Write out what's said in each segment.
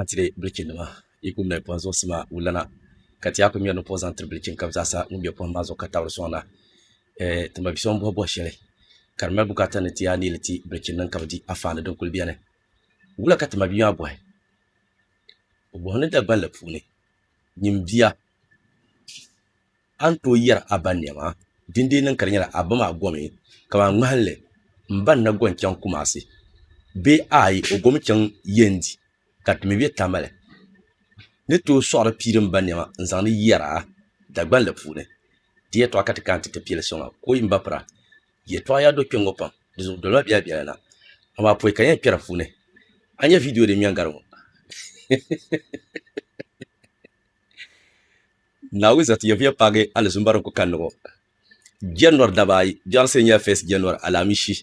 Antile bilichi nima yi ku ŋmɛri pɔhim zuɣusi maa wulana ka ti yaa ku ŋmɛri ni pɔh zaŋ tiri bilichi n-kabi zaasa ŋun be pɔhim maa zuɣu ka tabiri sɔŋ na. Eh, ti ma bi so m-bɔhi bɔh shɛli ka di mali bukaata ni ti yaa neei li ti bilichi niŋ ka bi di afaani din kuli beni. Wula ka ti ma bia maa bɔhi? O bɔhi ni Dagbanli puuni nyin bia. A ni tooi yɛri a ba nɛma, dindee niŋ ka di nyɛla a ba maa gomi kamani ŋmahinli, M ba n-na go n-chaŋ Kumasi bee aai o gomi chaŋ Yendi ka ti mi be Tamale. N ni tooi sɔɣiri pii din ba nɛma n-zaŋdi yɛra Dagbanli puuni. Di yɛtɔɣa ka ti kana ti ti pili soŋa kooyi m ba pira. Yɛtɔɣa yaa do kpe ŋ-ŋɔ pam, di zuɣu doli ma biɛla biɛla na. Amaa pɔi ka n yɛn kpɛri puuni. A nya viidiyo din ŋmɛŋ gari ŋɔ? Naawuni za ti yɛvuya paagi alizumba din ku kanni ŋɔ jɛrinɔri daba ayi biɛɣu sia nyɛla fɛs jɛrinɔri alaamishi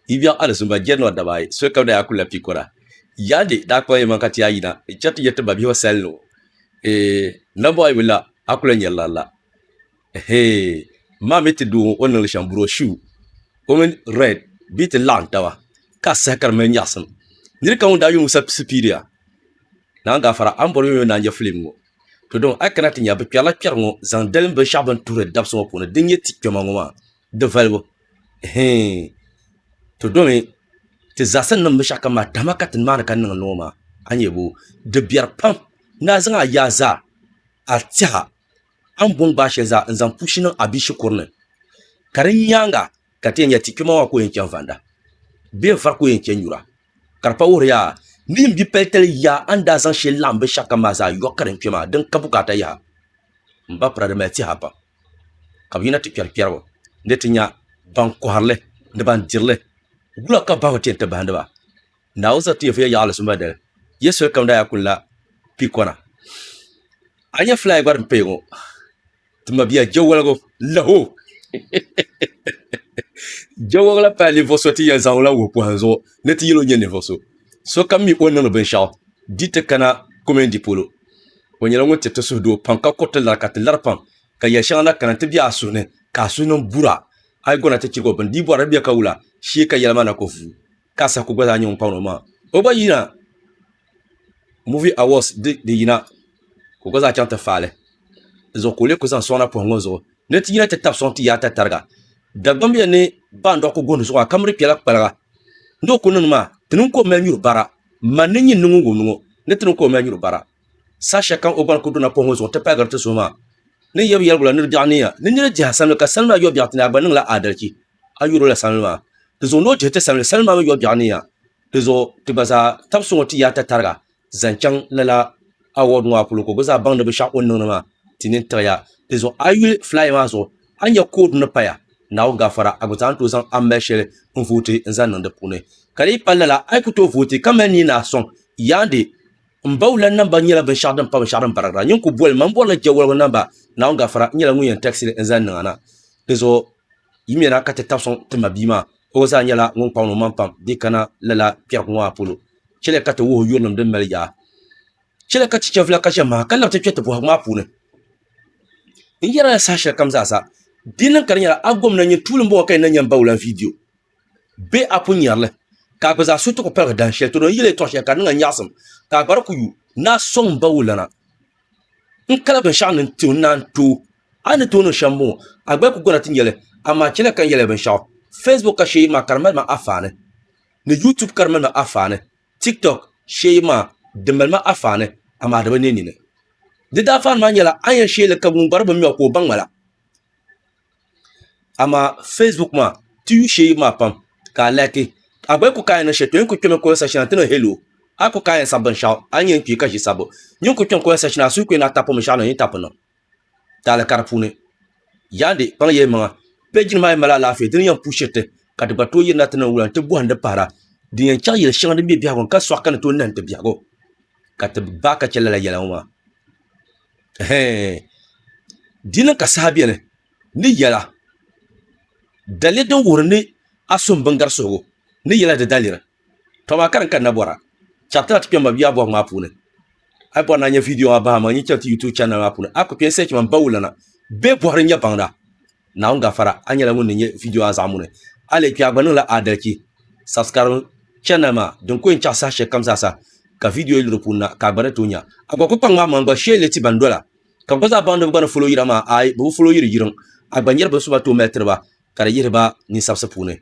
yi biɛɣu alizumba jɛrinɔri daba ayi soli kam daa yaa kulila pikɔra Yaade daa kpuɣila yɛlimaŋ ka ti yaa yina chɛ ti yɛriti babihiba sali ni ŋɔ Eeh nambɔɣu yi bi la a ku lahi nyari lari la Ehee m ma mi ti doo ŋɔ o ni niŋ li shɛm buroshuu o mini Red bee ti laɣim taba ka a saha ka di mali nyaɣisim niri kam ŋun daa yuli ŋɔ sapisi piiriya Naan gaafara a ni bɔri yomyom naan je filim ŋɔ. To dɔn a kana ti nya bɛ kpɛrila kpɛri ŋɔ zaŋ dalim binshɛɣu bini tuhiri dabsi ŋɔ puuni din nyɛ ti kpɛma ŋɔ maa di valibu hɛɛn to dɔmi ti zaɣisi ni niŋ binshɛɣu kam maa tahima ka ti ni maani ka niŋ ŋɔ maa a nya bɔ di biɛri pam ni a zaŋ a yaa zaa a tɛha a ni bɔŋ gbaai shɛli zaa n-zaŋ pushi niŋ a bia shikuru ni ka di nyaaŋa ka ti yɛn nya ti kpɛma maa ka o yɛn chani vanda bee n-vari ka o yɛn chani nyura ka di pa wuhiri ya ni yi ni bi palitali ya a ni daa zaŋ shɛli laɣim binshɛɣukam maa zaa yɔbu ka din kpɛ maa din ka bukaata yaha m ba pira di mali tɛha pam ka bɛ yina ti kpɛri kpɛribu ni ti nya ban kɔhiri li ni ban diri li wula ka bahigu ti yɛn ti bahindi ba Naawuni zaŋ ti yɛlifu ya yaɣili so madali ya solikam daa yaa kuli la piikɔna a ni nya filaaya gba din paya ŋɔ ti mabia jawaligu laho jawagila pa ninvuɣu so ti yɛn zaŋla wuhi pɔhim zuɣu ni ti yɛlo nyɛ ninvuɣu so sokam mi o niŋdi binshɛɣu di ti kana kɔmini di polo o nyɛla ŋun tiriti suhu doo pam ka kuriti lari ka ti lari pam ka yɛli shɛŋa na kana ti bɛ a suhu ni ka a suhu niŋ bura a yi gona ti chirigi o bini di yi bɔri di bɛ ka wula shee ka yɛli maa na ko vuu Ka Saku gba zaa nyɛ ŋun paŋ ni o maŋa. O gba yina Movie Awards di di yina ka o gba zaa chaŋ ti faali di zuɣu ka o lee kuli zaŋ sɔŋ na puhi ŋɔ zuɣu ni ti yina ti tabi sɔŋ ti yaai ta tariga. Dagbamb ya ni baandɔɣu ku gooni zuɣu a ka miri kpɛla kpaliga ni o ku niŋdi maa ti niŋ ka o mali nyuri bara man ni nyin niŋ ŋun ŋɔ ni ti niŋ ka o mali nyuri bara saha shɛli kam o gba ni ku duna puhi ŋɔ zuɣu ti pahigiri ti suhu maa ni yɛbu yɛligu la ni di biɛɣu niya ni nira dihi a sanimi ka sanimi la yɔbiɛɣu ti ni a gba niŋla aadalichi a yuri o la salindi maa, di zuɣu ni o dihi ti salindi salindi maa mini yɔbiɛɣu ni ya, di zuɣu ti gba zaa tab so ŋɔ ti yaata tariga zaŋ chaŋ lala award ŋɔ a polo ka o gba zaa baŋdi binshɛɣu o ni niŋdi maa ti nini tiɣi ya, di zuɣu a yuli flyer maa zuɣu a nya code ni paya Naawuni gafara a gba zaa ni tooi zaŋ a mali shɛli n vote n zaŋ niŋ di puuni ka di yi pali lala a yi ku tooi vote ka mali nii ni a sɔŋ yaandi M ba wula namba nyɛla binshɛɣu din pa binshɛɣu din barigira. Nyin ku boli ma m bɔrila jɛ woligu namba. Naawuni gafara, n nyɛla ŋun yɛn tɛɣisili n zani niŋana. Di zuɣu yi mi na ka ti tabi sɔŋ ti ma bia maa. O gba zaa nyɛla ŋun kpaŋ ni o maŋ pam dii kana lala kpɛrigu ŋɔ maa polo. Chɛliya ka ti wuhi yurilim din mali yaɣa. Chɛliya ka ti chɛ vila ka ʒe maha ka labi ti kpɛ ti bɔhigu maa puuni. N yɛrila saha shɛlikam zaa sa, di niŋ ka di nyɛla a gomna nyin tuuli m-bɔŋɔ ka yi na nya m ba wula n viidiyo. be a pun nyɛri li, ka a gba zaa suhu ti ku paligi dahin shɛli Toro ni yɛli ya tɔɣ shɛli ka di niŋ a nyaɣisim, ka a gbari ku yu, ni a sɔŋ m ba wulana n-kala binshɛɣu ni n-ti o ni naan tooi a ni tooi niŋ shɛm m-bɔŋɔ, a gba ku gɔna ti nya li, amaa chɛliya ka n yɛli ya binshɛɣu, Facebook ka shee yi maa ka di mali ma afaani, ni YouTube ka di mali ma afaani, TikTok shee yi maa di mali ma afaani, amaa di bi neei nini. Di daafaani maa nyɛla a ni yɛn sheei li ka ŋun gbari binmɛɣu ka o baŋ ma la. amaa facebook maa ti yu shee maa pam ka a laaki a gba yi ku kaai niŋ shɛli to yɛn ku kpɛmi comment section ni a ti niŋ hello a ku kaai yɛn sabi binshɛɣu a ni yɛn kpi ka ʒi sabbu n yɛn ku kpɛm comment section ni a suhi ku yɛn lahi tapumi shɛli n ni tapi niŋ taali ka di puuni yaandi kpaŋ ya yimaŋa page nim maa yɛn mali alaafee di ni yɛn puhi shiriti ka di gba tooi yirina ti niŋ wula n ti bɔhindi pahira din yɛn chɛri yɛli shɛŋa din be biɛhigu ni ka sɔɣi ka ni tooi nahi n ti biɛhigu ka ti baai ka chɛ lala yɛla ŋɔ maa Di niŋ ka saha beni ni yɛla daliri din wuhiri ni a suhim biŋgari suhigu ni yɛla di daliri. Tɔ maa ka din kanna bɔra chapter na ti kpɛm ba bia bɔbu maa puuni. A yi bɔri ni a nya video maa bahi a maŋa n-yi chaŋ ti YouTube channel maa puuni a ku kpe n-search man Bawulana bee Bɔhiri n-nya baŋda. Naawuni gafara a nyɛla ŋun ni nyɛ vidio a zaɣimuni a leei kpɛha gba niŋla aadalichi subscribe channel maa din ku yɛn chaɣi saha shɛli kam zaa sa ka vidio yili di puuni na ka a gba ni tooi nya a gba ku kpaŋ maa maŋ gba shee leei ti ban dola ka gba zaa baŋdiba gba ni folo yira maa aai bɛ bi folo yiri yiriŋ a gba nyɛri bin so ba tooi mali tiri ba ka di yihiri ba ninsabisi puuni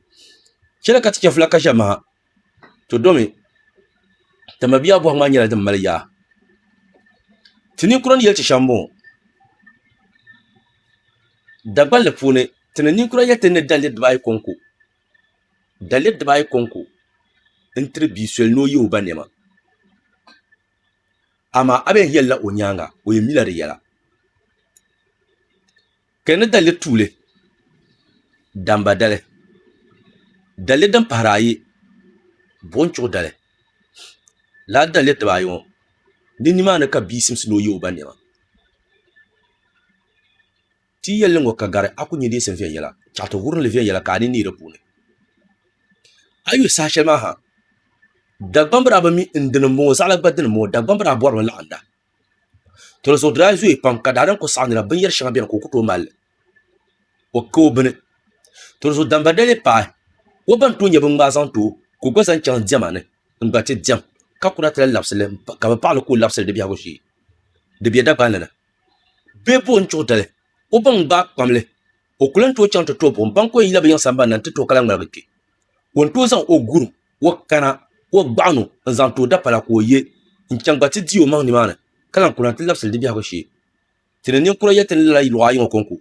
chɛli ka ti chɛ vula ka ʒɛ maha to domi ti mabiya bɔhim maa nyɛla din mali yaa ti ninkura ni yɛli ti shɛm m-bɔŋɔ Dagbal li puuni ti ni ninkura yɛli ti ni dali diba ayi kɔŋko dali diba ayi kɔŋko n-tiri bia soli ni o ye o ba nɛma amaa a bɛn yɛlila o nyaaŋa o yɛn mila di yɛla Ka ni dalli tuuli damba dali, dalli din pahiri ayi buɣim chuɣu dali, lala dalli diba ayi ŋɔ ni nimaani ka bia simsi ni o ye o ba nɛma. Ti yɛlli ŋɔ ka gari a ku nya deesim viɛnyɛla, chaɣ ti wurim li viɛnyɛla ka a ni neei di puuni. A yuli saha shɛli maa ha, Dagbambira bi mi n dini m-bɔŋɔ, zaɣila gba dini m-bɔŋɔ, Dagbambira bɔrimi laɣinda. to so daa zooyi pam ka daadam kuli saɣam nira binyɛri shɛŋa biɛni ka o ku tooi malli o ka o bini to so damba dali paai o ban tooi nyɛ bin ŋmaai zaŋ too ka o gba zaŋ chɛŋ diɛma ni n gba ti diɛm ka kuna ti lahi labisili ka bi paɣali ka o labisili di biɛhagu shee di bɛ Dagban ni na bee bo n chuɣu dali o ban gbaai kpamli o ku lahi tooi chaŋ ti tooi buɣum ban ku yɛn yila bi yiŋ sambanni na n ti tooi ka lahi ŋmaligi kpɛ ka o ni tooi zaŋ o gurim o kana o gbaɣano n zaŋ ti o dapala ka o yɛ n chɛŋ gba ti di o maŋ nimaani ka lahi kuna ti labisili di biɛhagu shee ti ni ninkura yɛli ti ni lala luɣa ayi ŋɔ kɔŋko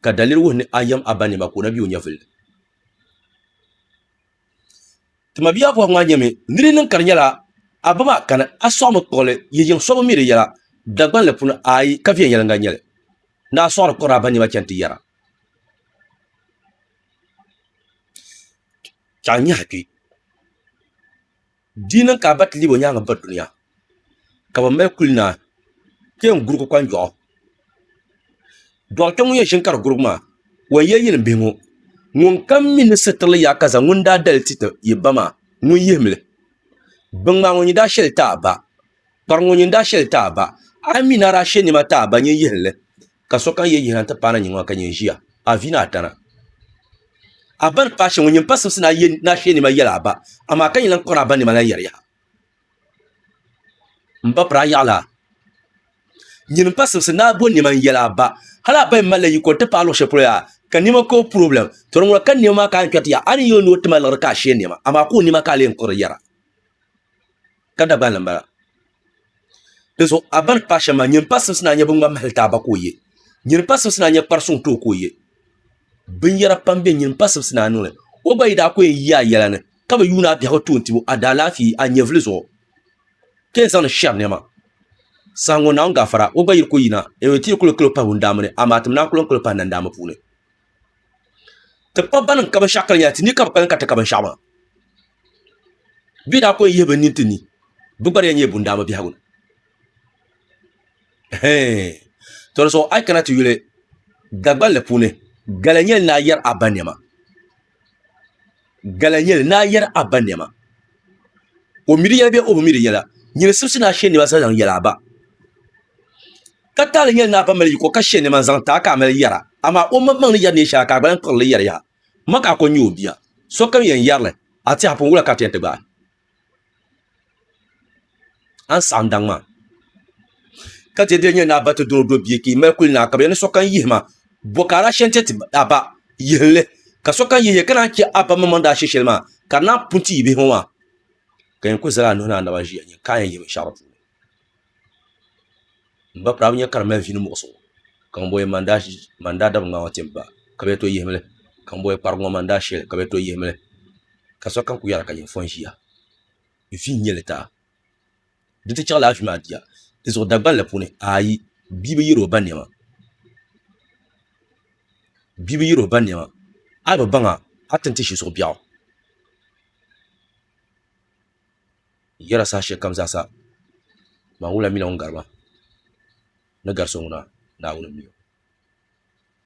ka daliri wuhi ni a yɛm a ba niɛma ka o na bɛ o nyɛvuli ni ti mabia Aboagh maa nyɛmi ni di niŋ ka di nyɛla a ba maa kani a sɔɣimi kpuɣili yi yiŋ so bi mi di yɛla Dagbanli puuni ayi ka viɛnyɛliŋga n nyɛli ni a sɔɣiri kɔri a ba niɛma chɛni ti yɛra ka n nyaɣa kpɛ di niŋ ka a ba ti lebi o nyaangi biri dunia ka bi mali kuli naa ka yɛn gurigi kpanjoɣu doɣatɛ ŋun yɛn ʒini ka di gurigi maa o yɛn yɛli yɛlim bihi ŋo ŋun kam mii ni sitirili yaɣa ka zaŋ ŋun daa dali ti yi ba maa ŋun yihimli bin ŋmaa ŋo nyɛ daa shɛli ti a ba Kpari ŋɔ nyin daa shɛli taa ba, a mi naa daa she nɛma taa ba nyin yihi li, ka sokam ye yihina nti paai na nyin ŋɔ ka nyin ʒiya, a vi ni a tana. A ba ni paai shɛŋa ŋɔ, nyin pa simsi ni a ye naa she nɛma yɛli a ba, amaa ka nyin lan kɔri a ba nɛma lan yɛri yaha. M ba piri a yaɣili a. Nyin m-pa simsi ni a bo nɛma n-yɛli a ba, hal a ba yɛn malila yiko nti paai luɣ shɛli polo yaa, ka nɛma ka o purɔblɛm, tɔ di ŋuna ka nɛma maa ka a yɛn kpɛri ti yaɣi, a ni yi o ni o ti ma liɣiri ka a she nɛma, amaa ka o nɛma ka a lee kɔri yɛra. ka Dagbaha ni m-bala. Dinzuɣu a ba ni paai shɛm maa, nyini pa simsi ni a nya biŋŋmani mahili ti a ba ka o ye, nyini pa simsi ni a nya kpar suŋ ti o ka o ye. Binyɛra pam be nyini pa simsi ni a niŋli. O gba yi daa ko yɛn yi a yɛla ni, ka bi yuun a biɛhigu ti o n-tib o a daalaafee a nyɛvili zuɣu, ka yɛn zaŋdi shɛri nɛma. Saha ŋɔ Naawuni gaafara o gba yi di ko yina, a yɛn ti yi kul kali o pahi wundaammi ni, amaa tim naa kul n-kali o pahi nandaammi puuni. ti kpa bɛn ka binshɛɣu kali nyɛla ti ni ka bi kpalim ka ti ka binshɛɣu maa bɛ ni daa kuli yihi bi nini ti ni bɛ gba di yɛn nyɛla bundaama biɛhigu ni ɛhɛin tɔ di zuɣu a yi kana ti yuli Dagbani li puuni gala nyɛli ni a yɛri a ba niɛma gala nyɛli ni a yɛri a ba niɛma o mi di yɛla bee o bi mi di yɛla nyini sibisi ni a shɛ niɛma zaŋ yɛli a ba Ka taali nyɛli ni a ba mali yiko ka she nɛma n-zaŋ ti a ka a mali yɛra, amaa o mmaŋmaŋ ni yɛri neen shɛli a ka a gba lahi kpiɣiri li yɛri yaha. M ma ka a ko n-nyɛ o bia. Sokam yɛn yɛri li, A tɛha pun wula ka a ti yɛn ti gbaai a ni saɣim daŋ maa. Ka di daa nyɛ ni a ba ti dɔn o do bia ka yi mali kuli ni a ka bɛ yɛli ni sokam yihi ma, bɔ ka a daa she n-ti ti a ba yihinli. Ka sokam yihi ya ka naan chɛ a ba mmaŋmaŋ ni daa she shɛli maa, ka di naan pun ti yi bihi ŋɔ maa. Ka yɛn kuli zali a nuhi ni a naba ʒiya nyin ka a yɛn yihi binshɛɣu di puuni. n ba pirabu nyɛ ka di mali vii ni muɣusigu ka ŋun bɔn yɛn maŋ daa dabi ŋmaa ŋɔ tim ba ka bi yɛli to yihimi li ka ŋun bɔn yɛn kparigi ŋɔ maŋ daa shɛli ka bi yɛli to yihimi li ka sokam ku yɛra ka nyini fɔn ʒiya vii n nyɛli taa di ti chaɣila afi maa bia di zuɣu dagbanli puuni ayi bia bi yɛri o ba niɛma bia bi yɛri o ba niɛma a yi bi baŋa a ti ni ti ʒi zuɣu biɛɣu. n yɛra saha shɛli kam zaa sa maa ŋun lahi mi la ŋun gari ma ni gari so ŋuna Naawuni n mi o.